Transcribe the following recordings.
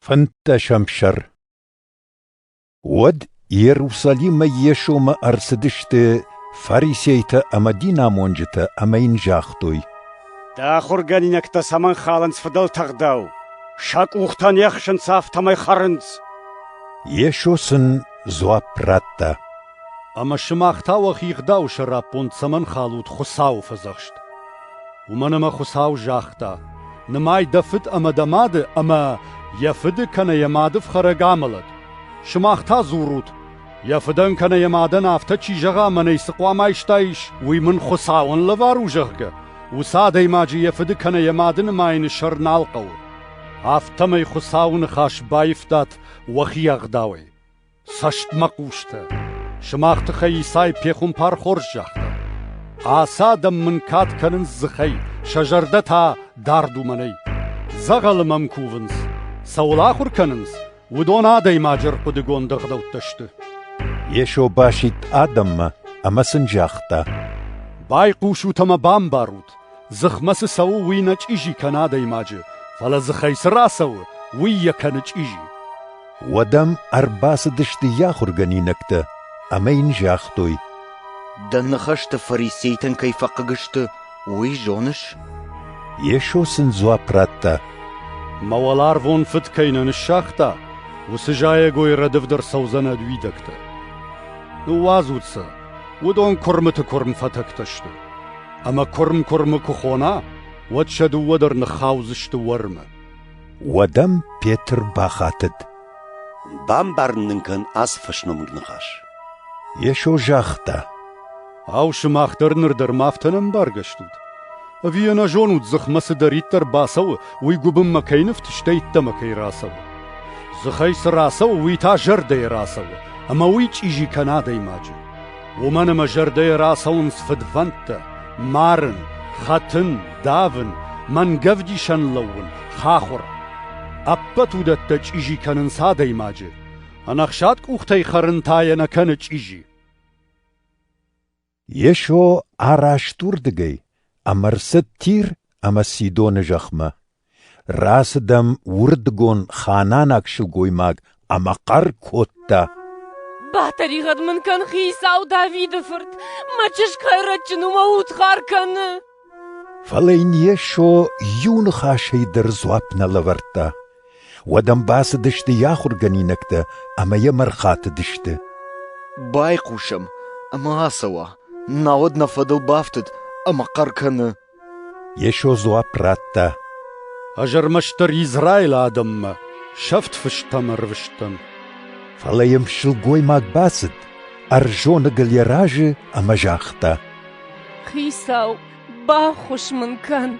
Фынддӕсӕмсӕр Уӕд Иерусалиммӕ Йесомӕ ӕрцыдысты фарисейтӕ ӕмӕ динамонджытӕ ӕмӕ йын загътой: «Дӕ ахуыргӕнинӕгтӕ цӕмӕн халынц фыдӕлты ӕгъдау? Сӕ къухтӕ не хсынц, афтӕмӕй хӕрынц!» Йесо сын дзуапп радта: Ӕмӕ сымах та уӕ хигъдауы сӕраппонд цӕмӕн халут Хуыцауы фӕдзӕхст? Уымӕн ӕмӕ Хуыцау загъта: «Нымай дӕ фыд ӕмӕ дӕ мады, ӕмӕ йӕ фыды кӕнӕ йӕ мады фхӕрӕг амӕлӕд. Сымах та дзурут: Йӕ фыдӕн кӕнӕ йӕ мадӕн афтӕ чи зӕгъа, мӕнӕй цы хъуамӕ айстаис, уый мын Хуыцауӕн лӕвар у, зӕгъгӕ, уыцы адӕймаджы йӕ фыды кӕнӕ йӕ мады нымайыны сӕр нал хъӕуы. Афтӕмӕй Хуыцауы ныхас баивтат уӕхи ӕгъдауӕй. Цӕстмӕ хъустӕ, сымах тыххӕй Исай пехуымпар хорз загъта: Ацы адӕм мын кад кӕнынц дзыхӕй, сӕ зӕрдӕ та дард уымӕнӕй. Дзӕгъӕлы мӕм кувынц, цӕуыл ахуыр кӕнынц, уыдон адӕймаджы ӕрхъуыдыгонд ӕгъдӕуттӕ сты. Йесо басидт адӕммӕ ӕмӕ сын загъта: Байхъусут ӕмӕ бамбарут, Дзыхмӕ цы цӕуы, уый нӕ чъизи кӕны адӕймаджы, фӕлӕ дзыхӕй цы рацӕуы, уый йӕ кӕны чъизи. Уӕд ӕм ӕрбацыдысты йӕ ахуыргӕнинӕгтӕ ӕмӕ йын загътой: Дӕ ныхӕстӕ фарисейтӕн кӕй фӕхъыг сты, уый зоныс? Йесо сын дзуапп радта: Мӕ уӕларвон Фыд кӕй нӕ ныссагъта, уыцы зайӕгой рӕдывд ӕрцӕудзӕн ӕд уидӕгтӕ. Ныууадзут сӕ, уыдон куырмыты куырм фӕтӕгтӕ сты. Ӕмӕ куырм-куырмы куы хона, уӕд сӕ дыууӕ дӕр ныххаудзысты уӕрмы. Уӕдӕм Петр бахатыд. Бамбарын нын кӕн ацы фӕсномыг ныхас. Йесо загъта. Ау, сымах дӕр ныр дӕр ма афтӕ не мбаргӕ стут? Ӕви ӕнӕ зонут, дзыхмӕ цыдӕриддӕр бацӕуы, уый гуыбынмӕ кӕй ныфт, стӕй йеддӕмӕ кӕй рацӕуы? Дзыхӕй цы рацӕуы, уый та зӕрдӕйӕ рацӕуы, ӕмӕ уый чъизи кӕны адӕймаджы. Уымӕн ӕмӕ зӕрдӕйӕ рацӕуынц фыдвӕндтӕ, марын, хӕтын, давын, мӕнгӕвдисӕн лӕууын, хахуыр. Ӕппӕт уыдӕттӕ чъизи кӕнынц адӕймаджы, ӕнӕхсад къухтӕй хӕрын та йӕ нӕ кӕны чъизи. Йесо араст уырдыгӕй ӕмӕ рцыд Тир ӕмӕ Сидоны зӕхмӕ. Рацыд ӕм уырдыгон хананаг сылгоймаг ӕмӕ хъӕр кодта: «Батӕригъӕд мын кӕн Хицау Давиды фырт! Мӕ чызг хӕйрӕджджын у мӕ удхар кӕны!» Фӕлӕ йын Йесо иу ныхасӕй дӕр дзуапп нӕ лӕвӕрдта. Уӕд ӕм бацыдысты йӕ ахуыргӕнинӕгтӕ ӕмӕ йӕм ӕрхатыдысты. «Байхъусӕм, ӕмӕ ацӕуа, науӕд нӕ фӕдыл бафтыд ӕмӕ хъӕр кӕны». Йесо дзуапп радта. «Ӕз ӕрмӕстдӕр Израилы адӕммӕ сӕфт фыстӕм ӕрвыстӕн». Фӕлӕ йӕм сылгоймаг бацыд, ӕрзоныгыл йӕ разы ӕмӕ загъта. Хицау, баххуыс мын кӕн!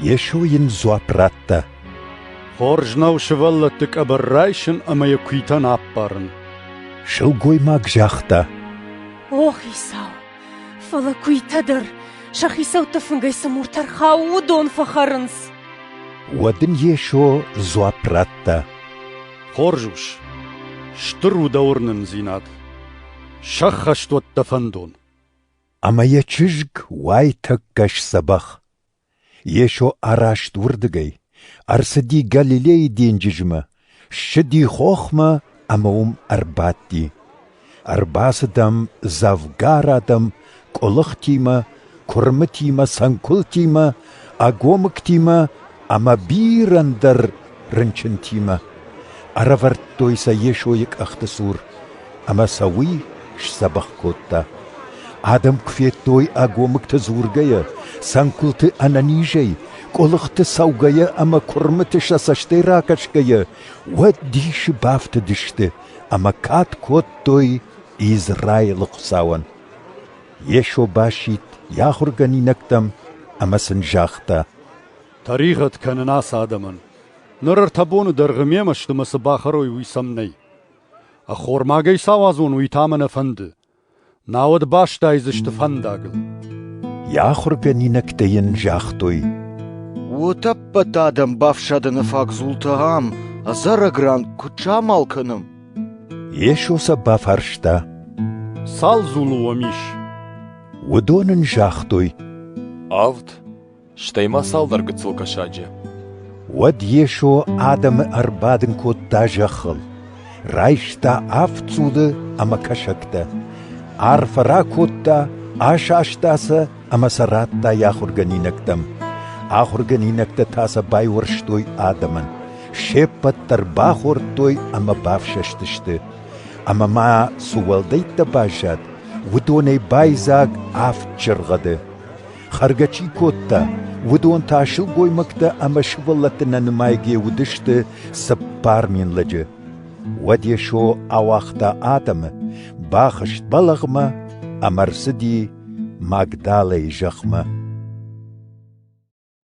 Йесо йын дзуапп радта. Хорз нӕу сывӕллӕтты къӕбӕр райсын ӕмӕ йӕ куитӕн аппарын. Сылгоймаг загъта. О, Хицау, фӕлӕ куитӕ дӕр, сӕ хицӕутты фынгӕй цы муртӕ рхауы, уыдон фӕхӕрынц. Уӕд ын Йесо дзуапп радта. Хорз ус, стыр у дӕ уырнындзинад. Сӕххӕст уӕд дӕ фӕндон. Ӕмӕ йӕ чызг уайтӕккӕ сдзӕбӕх. Йесо араст уырдыгӕй, ӕрцыди Галилейы денджызмӕ, ссыди хохмӕ ӕмӕ уым ӕрбадти. Ӕрбацыд ӕм дзӕвгар адӕм къуылыхтимӕ, куырмытимӕ, цӕнкуылтимӕ ӕгомыгтимӕ ӕмӕ бирӕ ӕндӕр рынчынтимӕ. Ӕрӕвӕрдтой сӕ Йесойы къӕхты цур, ӕмӕ сӕ Уый сдзӕбӕх кодта. Адӕм куы федтой ӕгомыгты дзургӕйӕ, цӕнкуылты ӕнӕнизӕй, къуылыхты цӕугӕйӕ ӕмӕ куырмыты сӕ цӕстӕй ракӕсгӕйӕ, уӕд дисы бафтыдысты ӕмӕ кад кодтой Израилы Хуыцауӕн. Йесо басидт йӕ ахуыргӕнинӕгтӕм ӕмӕ сын загъта: «Тӕригъӕд кӕнын ацы адӕмӕн. Ныр ӕртӕ боны дӕргъы мемӕ сты ӕмӕ цы бахӕрой, уый сӕм нӕй. Ӕххормагӕй цы ауадзон, уый та мӕ нӕ фӕнды. Науӕд баст айдзысты фӕндагыл». Йӕ ахуыргӕнинӕгтӕ йын загътой: «Утӕппӕт адӕм бафсӕдыны фаг дзултӕ ам, ӕдзӕрӕг ран куыд самал кӕнӕм?» Йесо сӕ бафарста, Цал дзулы уӕм ис? Уыдон ын загътой, Авд, стӕй ма цалдӕр гыццыл кӕсаджы. Уӕд Йесо адӕмы ӕрбадын кодта зӕххыл, райста авд цуды ӕмӕ кӕсӕгтӕ, арфӕ ракодта, асаста сӕ ӕмӕ сӕ радта йӕ ахуыргӕнинӕгтӕм. Ахуыргӕнинӕгтӕ та сӕ байуӕрстой адӕмӕн, се ппӕт дӕр бахордтой ӕмӕ бафсӕстысты. Ӕмӕ ма цы уӕлдӕйттӕ баззад, уыдонӕй байдзаг авд чыргъӕды. Хӕргӕ чи кодта, уыдон та сылгоймӕгтӕ ӕмӕ сывӕллӕтты нӕ нымайгӕ уыдысты цыппар мин лӕджы. Уӕд Йесо ауагъта адӕмы, бахызт бӕлӕгъмӕ ӕмӕ ӕрцыди Магдалӕйы зӕхмӕ.